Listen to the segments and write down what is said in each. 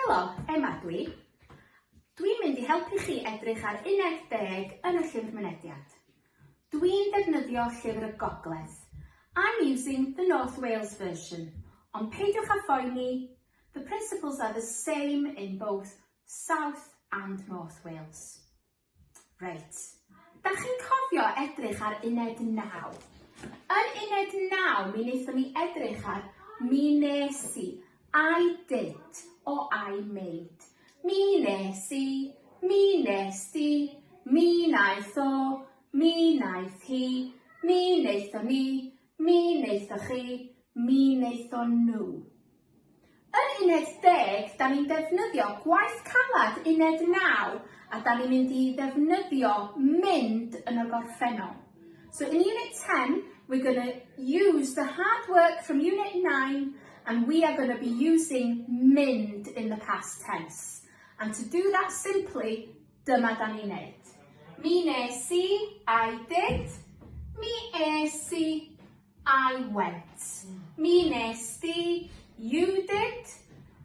Helo, Emma ydw i. Dwi'n mynd i helpu chi edrych ar uned deg yn y llyfr mynediad. Dwi'n defnyddio Llyfr y Gogledd. I'm using the North Wales version, ond peidiwch â phoeni, the principles are the same in both South and North Wales. Reit. Dach chi'n cofio edrych ar uned 9? Yn uned 9 mi wnaethon ni edrych ar mi nes i, I did o I made. Mi nes i, mi nes di, mi naeth o, mi naeth hi, mi wnaethon ni, Mi wnaethoch chi, mi wnaethon nhw. Yn uned deg, da ni'n defnyddio gwaith caled uned naw a da ni'n mynd i ddefnyddio mynd yn y gorffennol. So in unit 10, we're going to use the hard work from unit 9 and we are going to be using mynd in the past tense. And to do that simply, Dyma da ni'n neud. Mi nes i, I did. Mi es i, I went. Mi nes di, you did.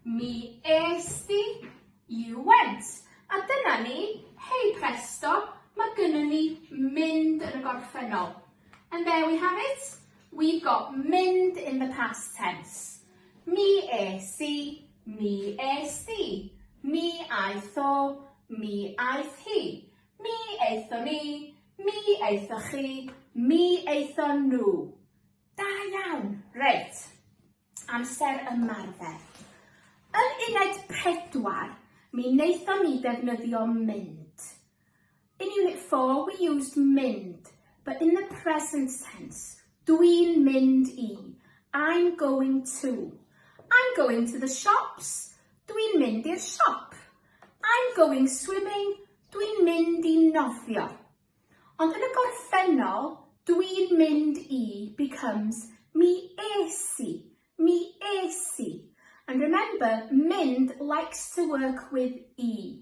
Mi es di, you went. A dyna ni, hei presto, mae gynnu ni mynd yn y gorffennol. And there we have it. We've got mynd in the past tense. Mi es i, Mi es di. Mi aeth o. Mi aeth hi. Mi aethon ni. Mi aethoch chi. Mi aethon nhw. Da iawn! Reit. Amser ymarfer. Yn uned pedwar, mi wnaethon ni ddefnyddio mynd. In Unit 4 we used mynd, but in the present tense. Dwi'n mynd i. I'm going to. I'm going to the shops. Dwi'n mynd i'r siop. I'm going swimming. Dwi'n mynd i nofio. Ond yn y gorffennol, dwi'n mynd i becomes mi es i, mi es i. And remember, mynd likes to work with e.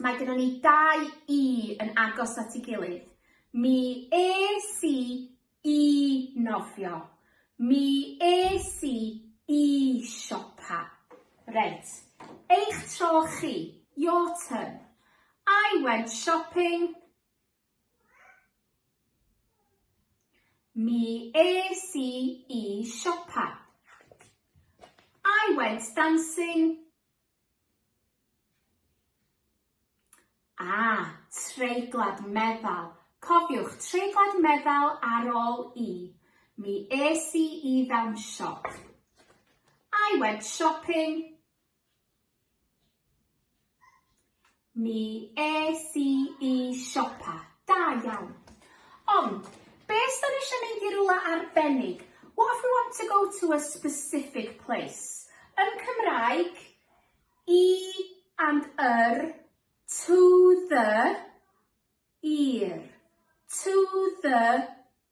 Mae gyda ni dau i yn agos at ei gilydd. Mi es i i nofio. Mi es i i siopa. Reit, eich tro chi, your turn. I went shopping. Mi es i i siopa. I went dancing. Ah, treiglad meddal. Cofiwch, treiglad meddal ar ôl i. Mi es i i fewn siop. I went shopping. Mi es i i siopa. Da iawn. Ond, be os da ni eisiau mynd i rhywle arbennig? What if we want to go to a specific place? Yn Cymraeg, i and yr, to the, i'r, to the,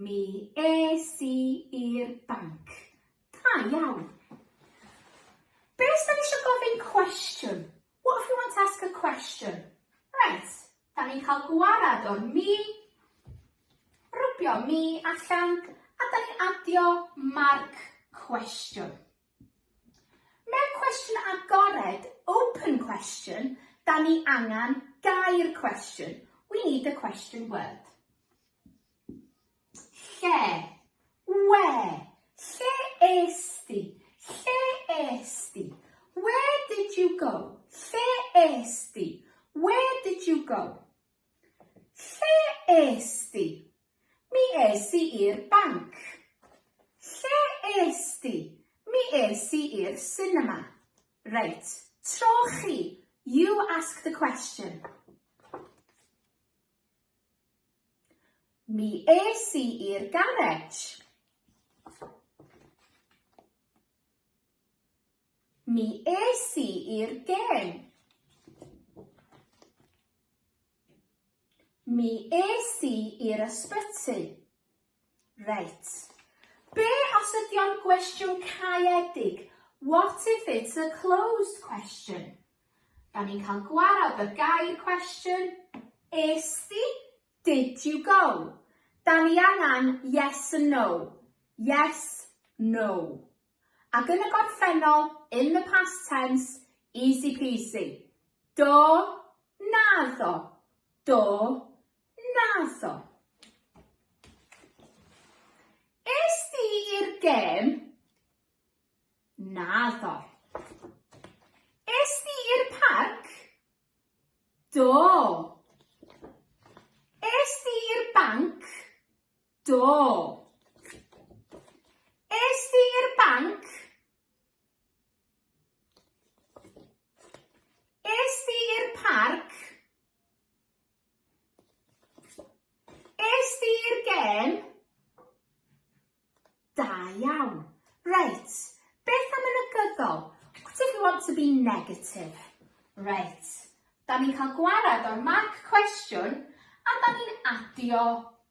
Mi es i i'r banc. Da iawn. Be os da ni eisiau gofyn cwestiwn? What if we want to ask a question? Right, da ni'n cael gwarad o'r mi, rwbio mi allan, a da ni'n adio marc cwestiwn. Mewn cwestiwn agored, open question, da ni angen gair cwestiwn. We need a question word. Lle. Where. Lle es di? Lle es di? Where did you go? Lle es di? Where did you go? Lle es di? Mi es i i'r banc. Lle es di? Mi es i i'r sinema. Reit, tro chi. You ask the question. Mi es i i'r garej. Mi es i i'r gêm. Mi es i i'r ysbyty. Reit. Be os ydy o'n gwestiwn caeedig? What if it's a closed question? Da ni'n cael gwarad y gair cwestiwn. Es di? Did you go? Da ni angen yes and no. Yes, no. Ac yn y gorffennol, in the past tense, easy peasy. Do, naddo. Do, naddo. Es di i'r gêm? Naddo. Es di i'r parc? Do. Es di i'r banc? Do. Es di i'r banc? Es di i'r parc? Es di i'r gêm? Da iawn. Reit, beth am y negyddol? What if we want to be negative? Reit, da ni'n cael gwared o'r mark cwestiwn a da ni'n adio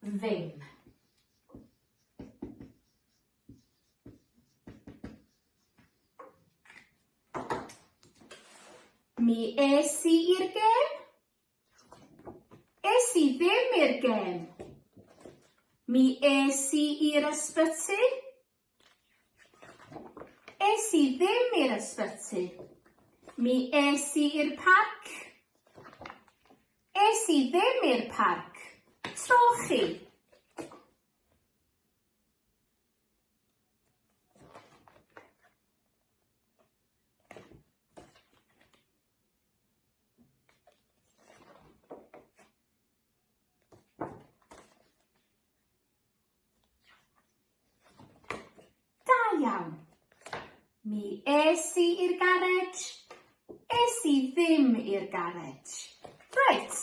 ddim. Mi es i i'r gêm. Es i ddim i'r gêm. Mi es i i'r ysbyty. Es i ddim i'r ysbyty. Mi es i i'r parc. Es i ddim i'r parc. Trochi. iawn. Mi es i i'r garej. Es i ddim i'r garej. Reit,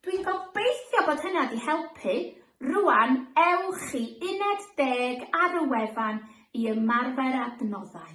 dwi'n gobeithio bod hynna wedi helpu. Rwan, ewch i uned deg ar y wefan i ymarfer adnoddau.